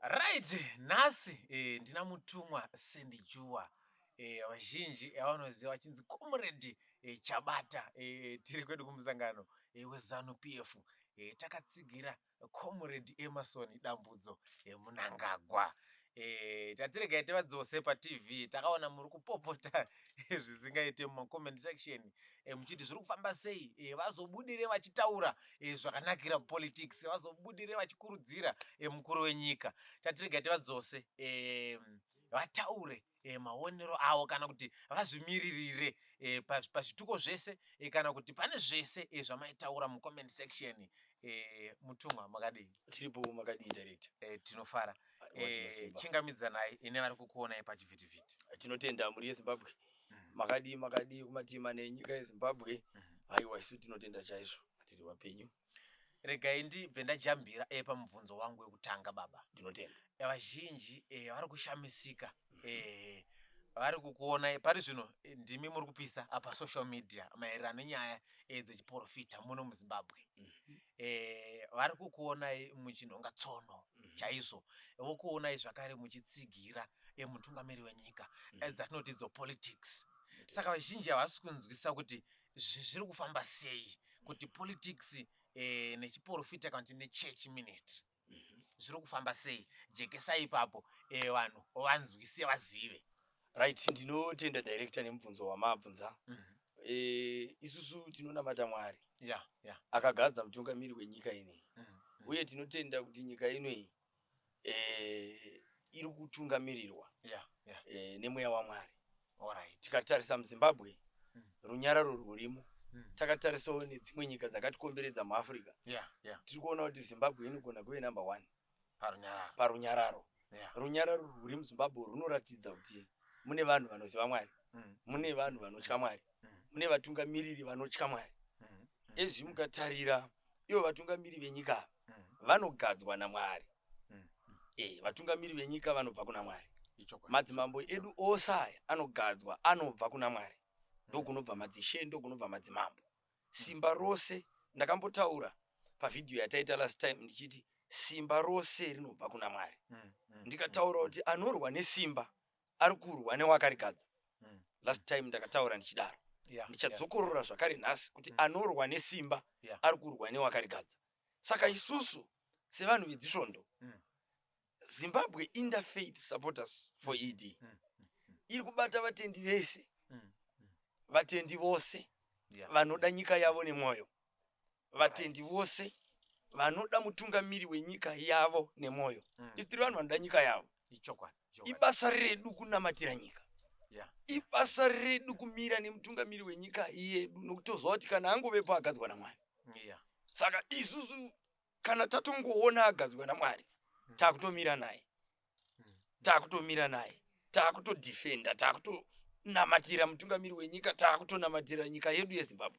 Right, nhasi eh, ndina mutumwa sendijuwa eh, vazhinji eh, vanoziva vachinzi comrade eh, Chabata eh, tiri kwedu kumusangano eh, wezanu PF eh, takatsigira comrade Emerson Dambudzo eh, Munangagwa eh, tatiregai tivadzose patv takaona muri kupopota eh, zvisingaite mumacomment section eh, muchiti zviri kufamba sei eh, vazobudire vachitaura e, zvakanakira politics vazobudire vachikurudzira e, mukuru wenyika tatirega tivadzose e, vataure e, maonero avo kana kuti vazvimiririre e, pazvituko zvese e, kana kuti pane zvese e, zvamaitaura mucomment section e, mutumwa makadii tiripo makadii director e, tinofara e, chingamidzanai ine vari kukuonai pachivhitivhiti tinotenda mhuri yezimbabwe makadii makadii kumatima nenyika yezimbabwe haiwa isu tinotenda chaizvo tiri vapenyu regai ndibve ndajambira e pamubvunzo wangu wekutanga baba ndinotenda eh, vazhinji e, vari kushamisika e, vari kukuona pari zvino ndimi muri kupisa apa social media maererano nenyaya e, dzechiporofita muno muzimbabwe mhm. eh, vari kukuonai muchinhonga tsono mhm. chaizvo vokuonai zvakare muchitsigira eh, mutungamiri wenyika mhm. as that notidzo politics saka vazhinji havasi kunzwisa kuti zviri kufamba sei kuti politics eh, nechiporofita kana kuti nechurch ministry zviri kufamba sei jekesa ipapo eh, vanhu vanzwise vazive right ndinotenda director nemubvunzo wamabvunza Mhm. Eh, isusu tinonamata mwari ya ya akagadza mutungamiri wenyika ineyi Mhm. uye tinotenda kuti nyika inoyi eh, iri kutungamirirwa ya ya eh, nemweya wamwari Alright. tikatarisa muzimbabwe Mm. runyararo rwurimo Mm. takatarisawo nedzimwe nyika dzakatikomberedza muafrica Yeah, yeah. tiri kuona kuti zimbabwe inogona kuve number one Parunyararo. parunyararo Yeah. runyararo rwuri muzimbabwe runoratidza kuti mune vanhu vanoziva mwari Mm. mune vanhu vanotya mwari Mm. mune vatungamiriri vanotya mwari Mm. ezvi mukatarira ivo vatungamiri venyika ava mm. vanogadzwa namwari mm. e, vatungamiri venyika vanobva kuna mwari madzimambo edu ose aya anogadzwa anobva kuna mwari mm. ndokunobva madzishe ndokunobva madzimambo simba rose ndakambotaura pavhidhiyo yataita last time ndichiti simba rose rinobva kuna mwari ndikataura kuti anorwa nesimba ari kurwa newakarigadza mm. last time ndakataura ndichidaro yeah, ndichadzokorora yeah. zvakare nhasi kuti mm. anorwa nesimba yeah. ari kurwa newakarigadza saka isusu sevanhu vedzisvondo mm. zimbabwe interfaith supporters for mm. ed mm. mm. mm. iri kubata vatendi vese mm. mm. vatendi vose yeah. vanoda nyika yavo nemwoyo vatendi vose vanoda mutungamiri wenyika yavo nemwoyo mm. isi tiri vanhu vanoda nyika yavo ibasa redu kunamatira nyika yeah. ibasa redu kumira nemutungamiri wenyika yedu nokuti toziva kuti kana angovepo agadzwa namwari yeah. saka isusu kana tatongoona agadzwa namwari mm. takutomira naye takutomira naye takutodefenda takutonamatira mutungamiri wenyika takutonamatira nyika yedu yezimbabwe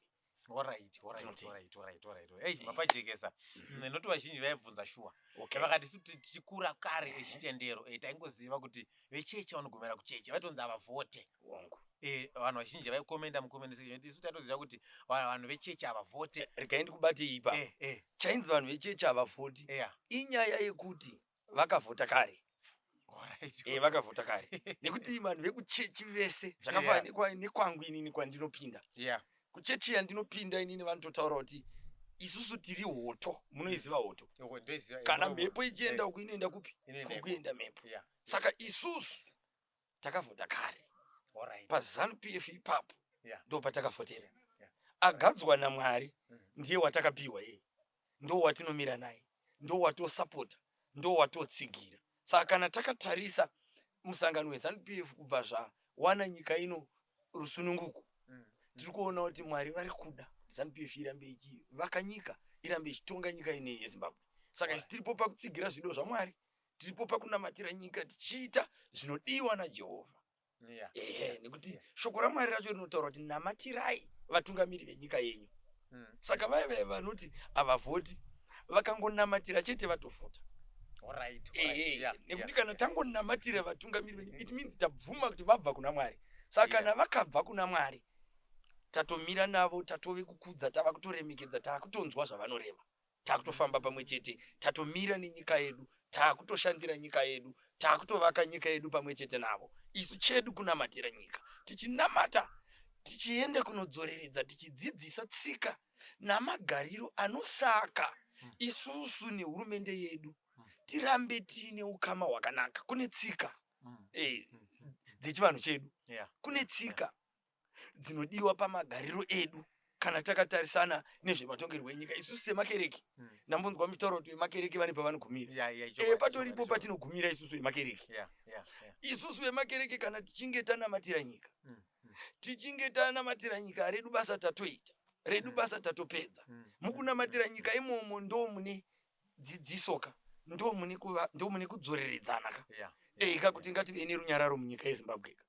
vapajekesa nekuti vazhinji vaibvunza shuwa vakati su tichikura kare echitendero eh, taingoziva kuti vechechi vanogomera kuchechi vaitonzi havavhote eh, vanhu vazhinji vaikomenda mukomendaisu taitoziva kuti vanhu vechechi havavhote eh, regai ndikubatei ipa chainzi vanhu vechechi havavhoti inyaya yekuti vakavhota kare eh, vakavhota kare nekuti vanhu vekuchechi vese zvakafanana nekwangu inini kwandinopinda kuchechi yandinopinda inini vanototaura kuti isusu tiri hoto munoiziva hoto kana mhepo ichienda uku inoenda kupi kukuenda mhepo saka isusu takavhota kare pazanu pf ipapo ndo patakavhotera agadzwa namwari mm. ndiye watakapiwa yeye ndo watinomira naye ndo watosapota ndo watotsigira saka kana takatarisa musangano wezanu pf kubva zvawana nyika ino rusununguko mm. tiri kuona kuti mwari vari kuda zanu pf irambe ichivaka nyika irambe ichitonga nyika ine yezimbabwe saka tiripo pakutsigira zvido zvamwari tiripo pakunamatira nyika tichiita zvinodiwa najehovha yeah. ehe nekuti yeah. shoko ramwari racho rinotaura kuti namatirai vatungamiri venyika yenyu mm. saka vaya vaya vanoti havavhoti vakangonamatira chete vatofuta right, right. ehe yeah, nekuti yeah. kana tangonamatira vatungamiri venyu it means tabvuma kuti vabva kuna mwari saka yeah. kana vakabva kuna mwari tatomira navo tatove kukudza tava kutoremekedza tava kutonzwa zvavanoreva takutofamba pamwe chete tatomira nenyika yedu takutoshandira nyika yedu takutovaka nyika yedu pamwe chete navo isu chedu kunamatira nyika tichinamata tichienda kunodzoreredza tichidzidzisa tsika namagariro anosaka hmm. isusu nehurumende yedu hmm. tirambe tiine ukama hwakanaka kune tsika hmm. eh, dzechivanhu chedu kune tsika dzinodiwa pamagariro edu kana takatarisana nezvematongerwo enyika isusu semakereke hmm. ndambonzwa mitauro kuti vemakereke vane pavanogumira eh, patoripo patinogumira isusu vemakereke isusu vemakereke kana tichinge tanamatira nyika hmm, hmm. tichinge tanamatira nyika redu basa tatoita redu basa tatopedza mukunamatira nyika imomo ndo mune dzidzisoka ndo mune kudzoreredzana ka eika eh, kuti ngative nerunyararo munyika yezimbabwe ka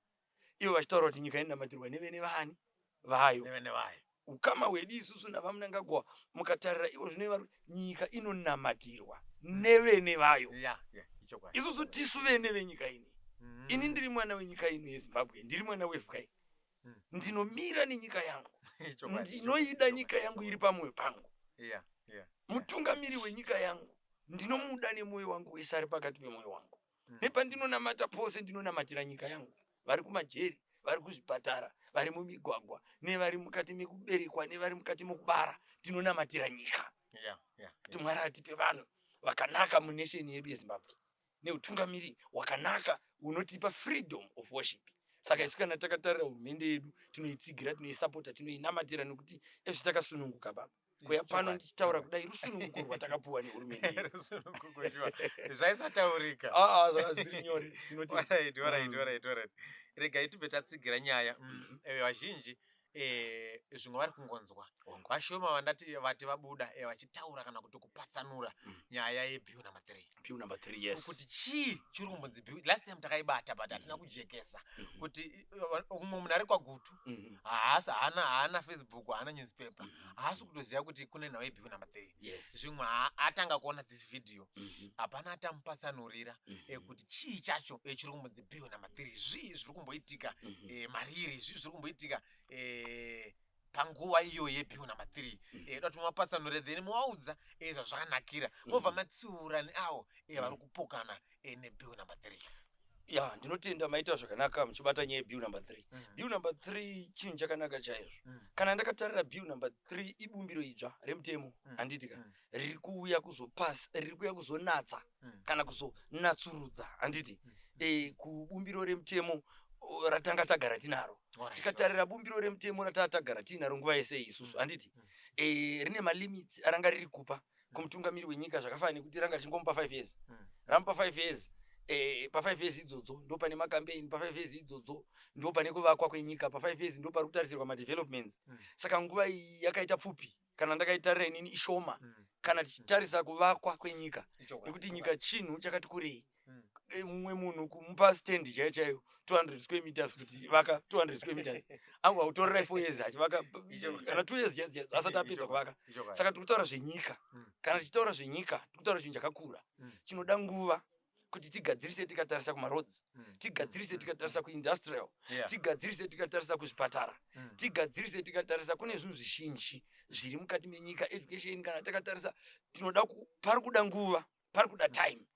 ivo vachitaura kuti nyika inonamatirwa nevene vani vayo nevene vayo ukama hwedu isusu navamunangagwa mukatarira ivo zvino ivari nyika inonamatirwa nevene vayo yeah, yeah, isusu tisu vene venyika ini mm. ini ndiri mwana wenyika ino yezimbabwe ndiri mwana wevka ini mm. ndinomira nenyika yangu ndinoida nyika yangu iri pamwoyo pangu yeah, yeah, mutungamiri wenyika yangu ndinomuda nemwoyo wangu wese ari pakati pemwoyo wangu nepandinonamata pose ndinonamatira nyika yangu vari kumajeri vari kuzvipatara vari mumigwagwa nevari mukati mekuberekwa nevari mukati mokubara tinonamatira nyika kuti mwari atipe vanhu vakanaka munesheni yedu yezimbabwe neutungamiri wakanaka unotipa freedom of worship saka isu kana takatarira hurumende yedu tinoitsigira tinoisapota tinoinamatira nekuti ezvitakasununguka baba kuya pano ndichitaura kudai rusununguko rwatakapuwa nehurumende zvaisataurika ah, ah, zviri nyore mm. regai tibve tatsigira nyaya mm, mm-hmm. eh, vazhinji eh, zvimwe vari kungonzwa vashoma vandati vati vabuda eh, vachitaura kana kuti kupatsanura mm. nyaya yebiu number three biu number three yes kuti chii chiri kumbonzi biu last time takaibata but hatina mm-hmm. kujekesa mm-hmm. kuti umwe munhu ari kwagutu mhm. haasi haana haana facebook haana newspaper mhm. haasi kutoziva kuti kune nhau yebhiku number three zvimwe atanga kuona this video mhm. hapana atamupatsanurira ekuti eh, chii chacho eh, chiri kumbonzi bhiku number three zvii zviri kumboitika eh, mariri zvii zviri kumboitika panguva iyo yepiwo number three eh, dati mapatsanure then movaudza eh, zvazvakanakira mobva matsiura neavo eh, vari kupokana eh, nepiwo number three ya ndinotenda maita zvakanaka muchibata nyaya yebill number three Mm. bill number three chinhu chakanaka chaizvo Mm. kana ndakatarira bill number three ibumbiro idzva remutemo Mm. handiti ka Mm. riri kuuya kuzopas riri kuuya kuzonatsa mm. kana kuzonatsurudza handiti mm. e, kubumbiro remutemo ratanga tagara tinaro right, tikatarira right. bumbiro remutemo rataa tagara tiinaro nguva yese isusu mm. handiti mm. e, rine malimits aranga riri kupa mm. kumutungamiri wenyika zvakafanana nekuti ranga richingomupa five years mm. ramupa five years Eh, pafive years idzodzo ndo pane makampeini pafive years idzodzo ndo pane kuvakwa kwenyika pafive years ndo pari kutarisirwa madevelopments mm. saka nguva iyi yakaita pfupi kana ndakaitarira inini ishoma mm. kana tichitarisa kuvakwa kwenyika nekuti nyika chinhu chakati kurei mm. eh, mumwe munhu kumupa stand chaiyo chaiyo 200 square meters kuti vaka 200 square meters angu akutorera four years achivaka kana two years asati apedza kuvaka saka tiri kutaura zvenyika mm. kana tichitaura zvenyika tiri kutaura chinhu chakakura chinoda nguva kuti tigadzirise tikatarisa kumaroads mm. tigadzirise mm. tikatarisa kuindustrial yeah. tigadzirise tikatarisa kuzvipatara mm. tigadzirise tikatarisa kune zvinhu zvizhinji zviri mukati menyika education kana takatarisa tinoda pari kuda nguva pari kuda mm. time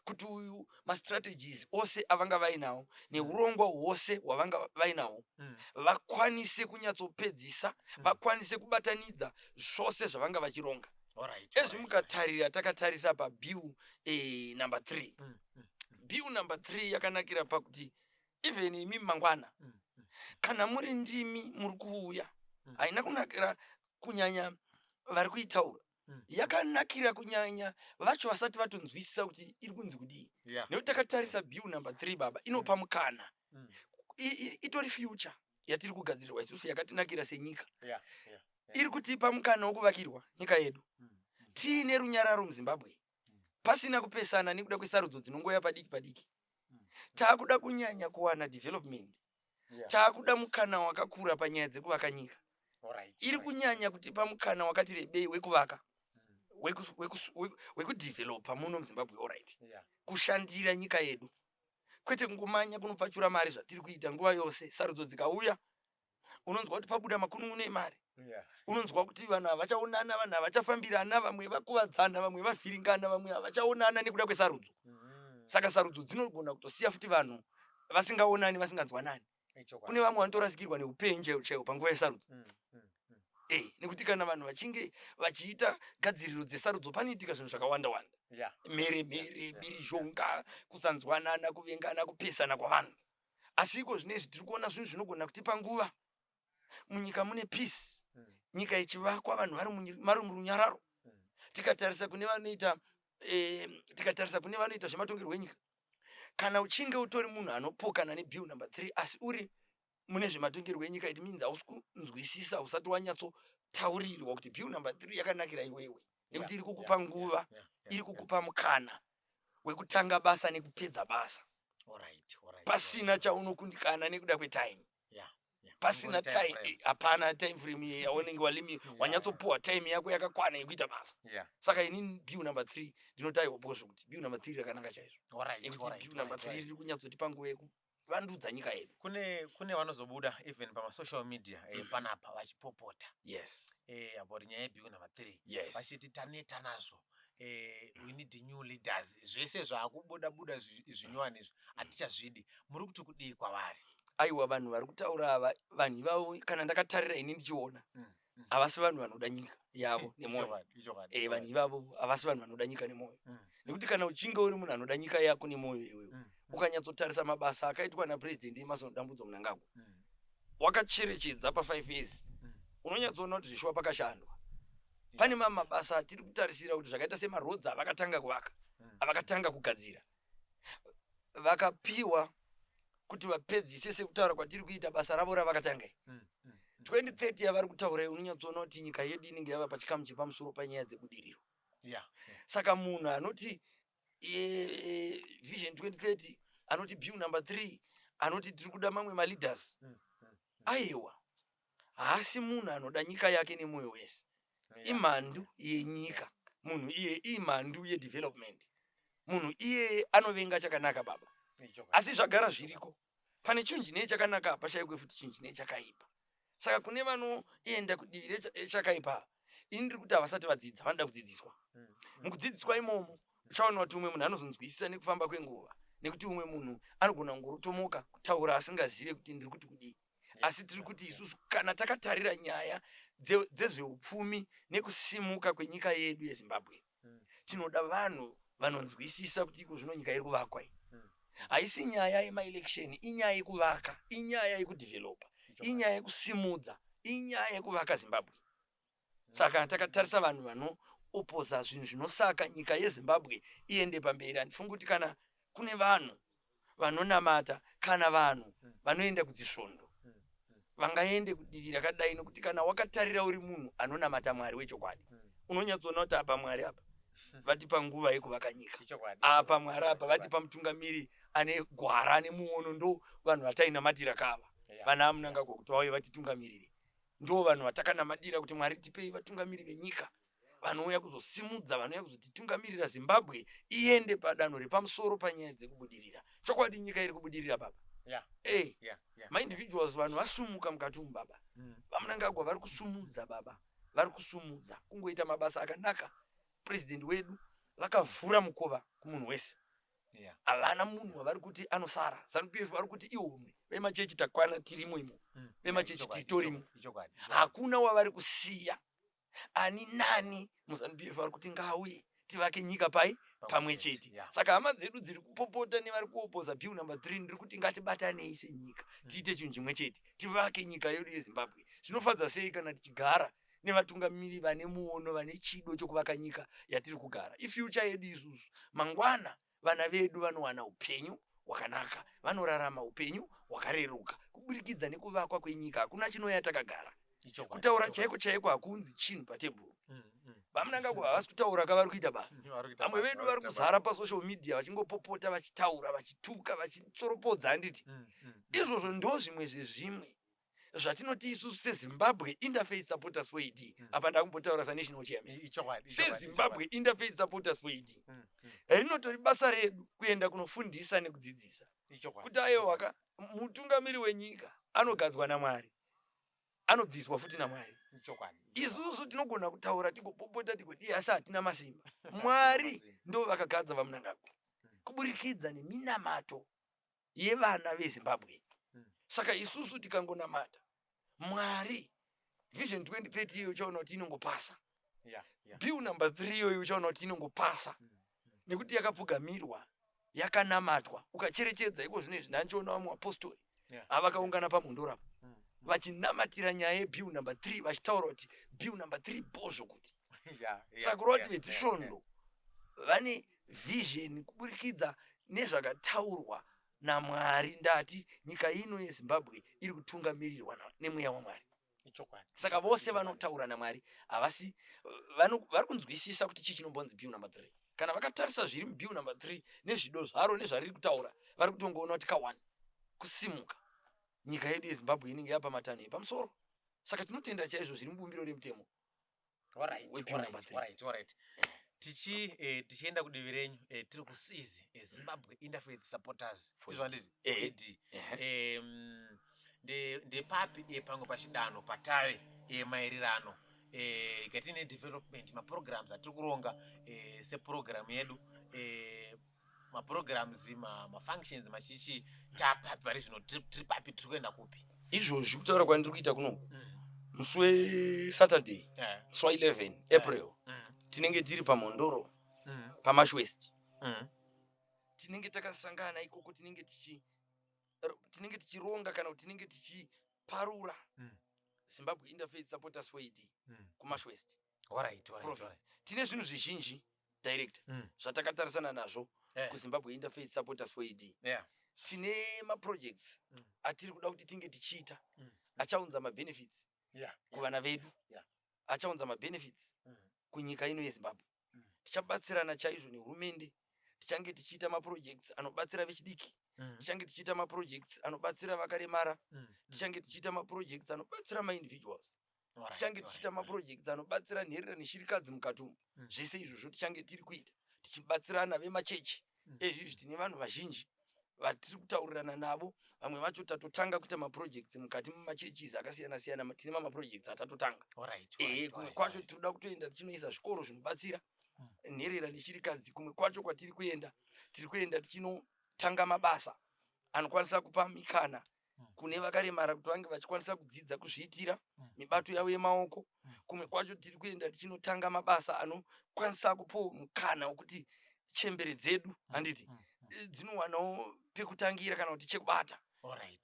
kuti uyu mastrategies ose avanga vainawo neurongwa hwose hwavanga vainawo mm. vakwanise kunyatsopedzisa mm. vakwanise kubatanidza zvose zvavanga vachironga Alright, ezvi alright. mukatarira takatarisa pabill eh, number three Mm, mm, bill number three yakanakira pakuti even imi mangwana mm, mm. kana muri ndimi muri kuuya Mm. haina kunakira kunyanya vari kuitaura Mm. yakanakira kunyanya vacho vasati vatonzwisisa kuti iri kunzi kudii Yeah. nekuti takatarisa bill number three baba inopa mukana Mm. I- i- itori future yatiri kugadzirirwa isusu yakatinakira senyika Yeah, yeah. iri kutipa mukana wokuvakirwa nyika yedu tiine runyararo muzimbabwe pasina kupesana nekuda kwesarudzo dzinongoya padiki padiki taakuda kunyanya kuwana development taakuda mukana wakakura panyaya dzekuvaka nyika iri kunyanya kutipa mukana wakati rebei wekuvaka wekudevelopa muno muzimbabwe orit kushandira nyika yedu kwete kungomanya kunopfachura mari zvatiri kuita nguva yose sarudzo dzikauya unonzwa kuti pabuda makunun'una emari unonzwa kuti vanhu havachaonana vanhu havachafambirana vamwe vakuvadzana vamwe vavhiringana vamwe havachaonana nekuda kwesarudzo mm. saka sarudzo dzinogona kutosiya futi vanhu vasingaonani vasinganzwanani kune vamwe vanotorasikirwa neupenyu chaiwo panguva yesarudzo mm, mm, mm. eh, nekuti kana vanhu vachinge vachiita gadziriro dzesarudzo panoitika zvinhu zvakawanda wanda mhere mhere birizhonga kusanzwanana kuvengana kupesana kwavanhu asi iko zvino izvi tiri kuona zvinhu zvinogona kutipa nguva munyika mune peace hmm. nyika ichivakwa vanhu vari murunyararo hmm. tikatarisa kune vanoita eh, tikatarisa kune vanoita zvematongerwo enyika kana uchinge utori munhu anopokana nebill number three asi uri mune zvematongerwo enyika it means hausi kunzwisisa usati wanyatso taurirwa kuti bill number three yakanakira iwewe nekuti iri kukupa nguva iri kukupa mukana wekutanga basa nekupedza basa pasina chaunokundikana nekuda kwetime pasina time eh, hapana time frame iye yaunenge walimi wanyatsopuwa time yako yakakwana yekuita basa saka ini bill number three ndinotaiwa bozvo kuti bill number three rakanaka chaizvo nekuti bill number three riri kunyatsotipa nguva vandudza nyika yedu kune kune vanozobuda even pamasocial media eh, mm. panapa vachipopota yes eh, about nyaya yebiu number three yes. vachiti taneta nazvo Eh, we need new leaders zvese zvaakubuda buda zvinyowani izvi mm. hatichazvidi muri kuti kudii kwavari aiwa vanhu vari kutaura ava vanhu ivavo kana ndakatarira ini ndichiona mm. havasi vanhu vanoda nyika yavo nemwoyo eh, vanhu ivavo havasi vanhu vanoda nyika nemwoyo mm. nekuti kana uchinge uri munhu anoda nyika yako nemwoyo iwewe mm. ukanyatsotarisa mabasa akaitwa napurezidendi emason dambudzo munangagwa mm. wakacherechedza pafive years unonyatsoona kuti zvishuwa pakashandwa pane mamwe mabasa atiri kutarisira kuti zvakaita semarodzi avakatanga kuvaka avakatanga kugadzira vakapiwa kuti vapedzise sekutaura kwatiri kuita basa ravo ravakatanga iri mm, mm, mm. 2030 yavari kutaura iyi unonyatsoona kuti nyika yedu inenge yava pachikamu chepamusoro panyaya dzebudiriro yeah, yeah. saka munhu anoti e, e, vision 2030 anoti bill number three anoti tiri kuda mamwe maleaders mm, mm, mm. aiwa haasi munhu anoda nyika yake nemoyo wese imhandu yenyika munhu iye imhandu yedevelopment munhu iyeye anovenga chakanaka baba asi zvagara zviriko pane chinhu chinee chakanaka pashaikwe futi chinhu chinee chakaipa saka kune vanoenda kudivi rechakaipa ini ndiri kuti havasati vadzidza vanoda kudzidziswa hmm. mukudzidziswa imomo uchaona kuti umwe munhu anozonzwisisa nekufamba kwenguva nekuti umwe munhu anogona kungorotomoka kutaura asingazive kuti ndiri kuti kudii asi tiri kuti isusu kana takatarira nyaya dzezveupfumi nekusimuka kwenyika yedu yezimbabwe hmm. tinoda vanhu vanonzwisisa kuti iko zvino nyika iri kuvakwa iyi hmm. haisi nyaya yemaelection inyaya yekuvaka inyaya yekudhivhelopa inyaya yekusimudza inyaya yekuvaka zimbabwe saka takatarisa vanhu vanoopposer zvinhu zvinosaka nyika yezimbabwe iende pamberi handifungi kuti kana kune vanhu vanonamata kana vanhu vanoenda kudzisvondo vangaende kudivi rakadai nokuti kana wakatarira uri munhu anonamata mwari wechokwadi hmm. unonyatsoona kuti apa mwari apa hmm. vatipa nguva yekuvaka nyika apa mwari apa vatipa mutungamiri ane gwara ane muono ndo vanhu vatainamatira kava vana amunangagwa kuti vauye vatitungamirire Ndoo vanhu vatakanamatira kuti Mwari tipei vatungamiri venyika vanouya kuzosimudza vanouya kuzotitungamirira Zimbabwe iende padanho repamusoro panyaya dzekubudirira. Chokwadi nyika iri kubudirira baba. Yeah. Hey, eh, yeah, yeah. My individuals vanhu vasumuka mukati umu baba. Mm. VaMnangagwa vari kusumudza baba. Vari kusumudza kungoita mabasa akanaka. President wedu vakavhura mukova kumunhu wese. havana munhu wavari kuti anosara zanu pf vari kuti ihomwe vemachechi takwana tirimo imo mm. vemachechi titorimo hakuna wavari kusiya ani nani muzanu pf vari kuti ngauye tivake nyika pai pamwe chete saka hama dzedu dziri kupopota nevari kuopoza bill number three ndiri kuti ngatibatanei senyika mm. tiite chinhu chimwe chete tivake nyika yedu yezimbabwe zvinofadza sei kana tichigara nevatungamiri vane muono vane chido chokuvaka nyika yatiri kugara ifyucha yedu isusu mangwana vana vedu vanowana upenyu hwakanaka vanorarama upenyu hwakareruka kuburikidza nekuvakwa kwenyika hakuna chinoya takagara kutaura chaiko chaiko hakunzi chinhu patebhuru mm, mm. vamunangako havasi kutaura ka vari kuita basa vamwe vedu vari kuzara pasocial media vachingopopota vachitaura vachituka vachitsoropodza handiti mm, izvozvo ndo zvimwe zvezvimwe zvatinoti isusu sezimbabwe interfaith supporters for ed mm. apa ndakumbotaura sanational chairman sezimbabwe interfaith supporters for ed mm. mm. rinotori basa redu kuenda kunofundisa nekudzidzisa kuti ayewaka mutungamiri wenyika anogadzwa namwari anobviswa futi namwari isusu tinogona kutaura tigopopota tigoti asi hatina masimba mwari ndo vakagadza vamunangagwa mm. kuburikidza neminamato yevana vezimbabwe saka isusu tikangonamata mwari vision 2030 iyoyo uchaona kuti inongopasa yeah, yeah. bill number 3 iyoyo uchaona kuti inongopasa mm, mm. nekuti yakapfugamirwa yakanamatwa ukacherechedza iko zvino izvi ndandichiona vamwe vapostori yeah. avakaungana pamhondorapa mm, mm. vachinamatira nyaya yebill number 3 vachitaura kuti bill number 3 bozvo kuti yeah, yeah, saka kureva kuti yeah, vedzisvondo yeah, yeah. vane vision kuburikidza nezvakataurwa naMwari ndati nyika ino yeZimbabwe iri kutungamirirwa nemweya waMwari saka vose vanotaura naMwari havasi vari kunzwisisa kuti chii chinombonzi bill number three kana vakatarisa zviri mubill number three nezvido zvaro nezvariri kutaura vari kutongoona kuti kawani kusimuka nyika yedu yezimbabwe inenge yapa matanho epamusoro saka tinotenda chaizvo zviri mubumbiro remutemo tichienda eh, kudivi renyu eh, tiri kusizi eh, zimbabwe interfaith supporters izvanditi ndepapi pamwe pachidanho patave maererano katine development maprograms atiri kuronga seprogiramu yedu maprograms mafunctions machichi tapapi pari zvino tiri papi tiri kuenda kupi izvozvi kutaura kwandiri kuita kuno mm. musi wesaturday eh. musi wa 11 eh. april mm. tinenge tiri pamhondoro mm. pamashwest tinenge takasangana ikoko tinenge tichi tinenge tichironga kana kuti tinenge tichiparura zimbabwe interfaith supporters for ed kumashwest tine zvinhu zvizhinji director mm. zvatakatarisana nazvo yeah. kuzimbabwe interfaith supporters for ed yeah. tine maprojects mm. atiri kuda kuti tinge tichiita mm. achaunza mabenefits yeah. kuvana vedu yeah. achaunza mabenefits mm. kunyika ino yezimbabwe mm. tichabatsirana chaizvo nehurumende tichange tichiita maprojects anobatsira vechidiki mm. tichange tichiita maprojects anobatsira vakaremara mm. tichange tichiita maprojects anobatsira maindividuals tichange tichiita maprojects anobatsira nherera neshirikadzi mukati umu mm. zvese izvozvo tichange tiri kuita tichibatsirana vemachechi mm. ezvizvi tine vanhu vazhinji vatiri kutaurirana navo vamwe vacho tatotanga kuita maprojects mukati mumachurches akasiyana siyana tine mamaprojects atatotanga ehe kumwe kwacho tiri kuda kutoenda tichinoisa zvikoro zvinobatsira hmm. nherera neshirikadzi kumwe kwacho kwatiri kuenda tiri kuenda tichinotanga mabasa anokwanisa kupa mikana kune vakaremara kuti vange vachikwanisa kudzidza kuzviitira mm. mibato yavo yemaoko mm. kumwe kwacho tiri kuenda tichinotanga mabasa anokwanisa kupo mukana wekuti chembere dzedu mm. handiti eh, dzinowanawo pekutangira kana kuti chekubata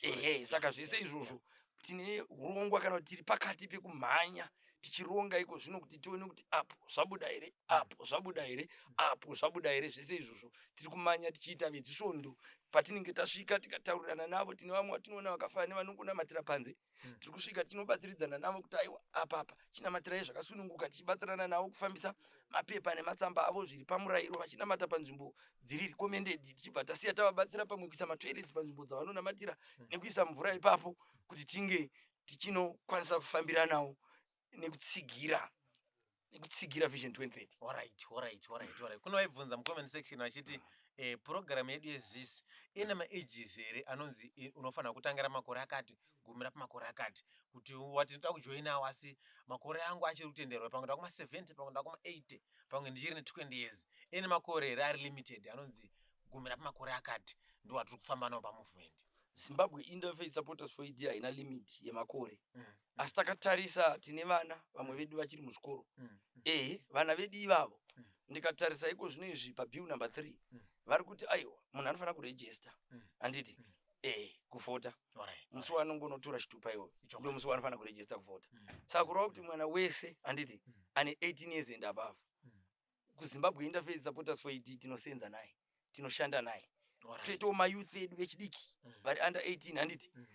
ehe saka zvese izvozvo tine urongwa kana kuti tiri pakati pekumhanya tichironga iko zvino kuti tione kuti apo zvabuda here apo zvabuda here apo zvabuda here zvese izvozvo tiri kumanya tichiita vedzisvondo patinenge tasvika tikataurirana navo tine vamwe vatinoona vakafana nevanongonamatira panze hmm. tiri kusvika tinobatsiridzana navo kuti aiwa apapa chinamatirai zvakasununguka tichibatsirana navo kufambisa mapepa nematsamba avo zviri pamurayiro vachinamata panzvimbo dziri recommended tichibva tasiya tavabatsira pamwe kuisa matoilets panzvimbo dzavanonamatira hmm. nekuisa mvura ipapo kuti tinge tichinokwanisa kufambiranawo nekutsigira nekutsigira vision 2030 alright alright alright alright kune vaibvunza mucomment section vachiti eh, program yedu yezis ine maages here anonzi eh, unofanira kutangira makore akati gumira pamakore akati kuti wati ndoda kujoinawo asi makore angu achiri kutenderwa pamwe ndakuma 70 pamwe ndakuma 80 pamwe ndichiri ne 20 years ine makore here ari limited anonzi gumira pamakore akati ndo watiri kufamba nawo pamovement zimbabwe interfaith supporters for ed haina limit yemakore Mm. asi takatarisa tine vana vamwe vedu vachiri muzvikoro mm. ehe vana vedu ivavo mm. ndikatarisa iko zvino izvi pabill number three mm. vari kuti aiwa munhu anofanira kurejista mm. handiti mm. ehe kuvhota musi wanongonotora chitupa iwoyo ndo musi wanofanira kurejista kuvhota mm. saka kureva kuti mwana wese handiti mm. ane 18 years and above mm. kuzimbabwe interfaith supporters for ed tinoseenza naye tinoshanda naye toitawo mayouth edu echidiki mm. vari under 18 handiti mm.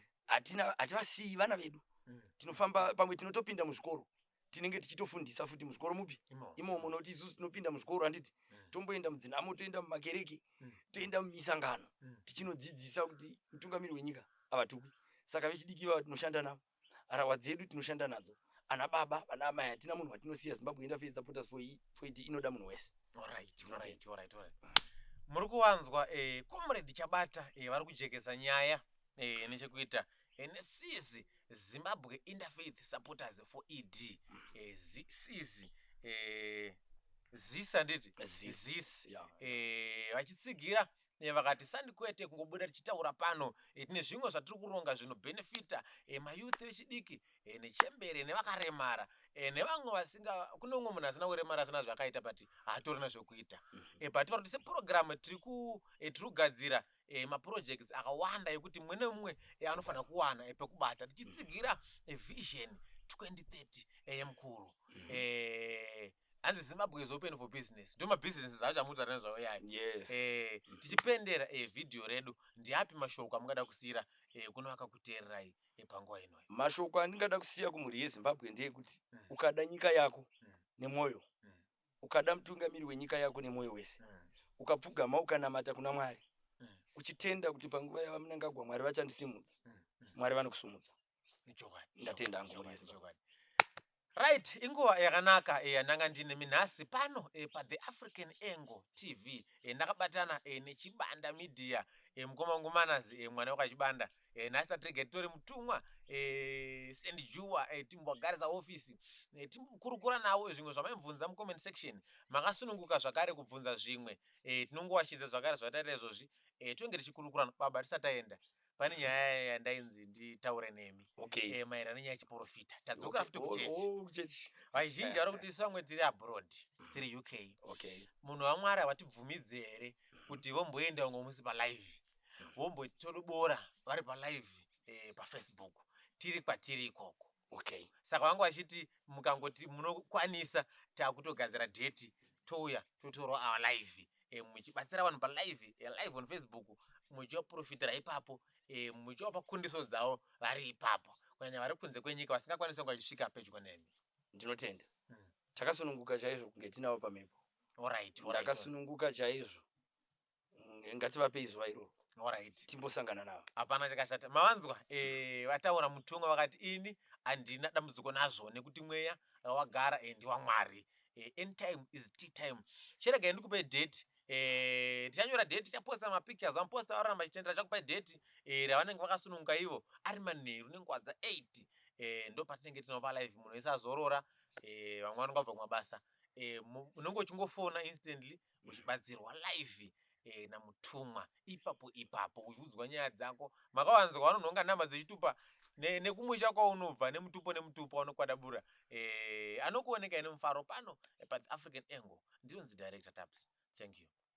hativasiyi vana vedu mm. tinofamba pamwe tinotopinda muzvikoro tinenge tichitofundisa futi muzvikoro mupi imomo nokuti isusu tinopinda muzvikoro handiti mm. tomboenda mudzinhamo toenda mumakereke mm. toenda mumisangano mm. tichinodzidzisa kuti mutungamiri wenyika havatukwi saka vechidiki vava tinoshanda navo harahwa dzedu tinoshanda nadzo ana baba vana amai hatina munhu watinosiya zimbabwe enda fei supporters for i- for it inoda munhu wese Alright, Unotenda. alright, alright, alright. muri kuwanzwa eh, comrade chabata eh, vari kujekesa nyaya eh, nechekuita eh, nesizi zimbabwe interfaith supporters for ed eh, zi- sizi eh, zis handiti Zis. zis Yeah. eh, vachitsigira Eh, vakati sandi kwete kungobuda tichitaura pano eh, tine zvimwe zvatiri kuronga zvinobhenefita eh, mayouth vechidiki nechembere nevakaremara nevamwe vasinga kune umwe munhu asina kuremara asina zvakaita but haatorina zvekuita mhm. but vari kuti sepurogiramu tiri kugadzira maprojects akawanda ekuti mumwe nemumwe anofanira kuwana pekubata tichitsigira vision 2030 yemukuru mhm. hanzi zimbabwe is open for business ndo mabusinesses acho amutaurira nezvavo yayo yes Eh, tichipendera eh, vhidhiyo redu ndiapi mashoko amungada kusiyira eh, kuno akakuteererai eh, panguva inoyi mashoko andingada kusiya kumhuri yezimbabwe ndeyekuti Mm. ukada nyika yako Mm. nemwoyo Mm. ukada mutungamiri wenyika yako nemwoyo wese Mm. ukapfugama ukanamata kuna mwari Mm. uchitenda kuti panguva yavamnangagwa mwari vachandisimudza Mm. Mm. mwari vanokusumudza nechokwadi ndatenda hangu muri yese chokwadi right inguva yakanaka e, yandanga ndine minhasi pano e, pathe african angle tv e, ndakabatana e, nechibanda media e, mukoma wangu manazi e, mwana wekachibanda e, nhasi tatirege titori mutumwa e, sendijuwa e, timbogarisa ofisi e, tikurukura navo zvimwe zvamaibvunza mucomment section makasununguka zvakare kubvunza zvimwe e, tinongowashidza zvakare zvatataita izvozvi e, tonge tichikurukurana baba tisataenda pane nyaya yandainzi nditaure nemi okay. e, maererano nenyaya yechiporofita tadzoka futi okay. kuchechi oh, oh, kuchechi vazhinji vari kuti isu vamwe tiri abroad tiri uk okay. munhu wamwari havatibvumidzi here kuti vomboenda umwe musi palive vombotodobora vari palive e, pafacebook tiri kwatiri ikoko okay saka vanga vachiti mukangoti munokwanisa takutogadzira date touya totorwa our live e, muchibatsira vanhu palive e, live on facebook muchivaprofitira ipapo e, muchivapa kundiso dzavo vari ipapo kunyanya vari kunze kwenyika vasingakwanisi vanga vachisvika pedyo nemi ndinotenda hmm. takasununguka chaizvo kunge tinavo pamhepo ndakasununguka chaizvo Mm, ngativapei zuva iroro Alright. timbosangana navo hapana chakashata mavanzwa eh, vataura mutongo vakati ini handina dambudziko nazvo nekuti mweya wagara eh, ndewamwari eh, end time is tea time chiregai ndikupai date Eh, tichanyora date tichaposta mapictures vamuposta varona machitendera chakupai date eh, ravanenge vakasununguka ivo ari manheru nenguva dza 8 eh, ndo patinenge tinova live munhu wese azorora eh, vamwe vanonga vabva kumabasa eh, mu- unenge uchingofona instantly uchibatsirwa live eh, namutumwa ipapo ipapo uchiudzwa nyaya dzako makawanzwa vanonhonga nhama dzechitupa ne- nekumusha kwaunobva nemutupo nemutupo anokwadabura eh, anokuoneka ine mufaro pano eh, paafrican angle ndinonzi director taps thank you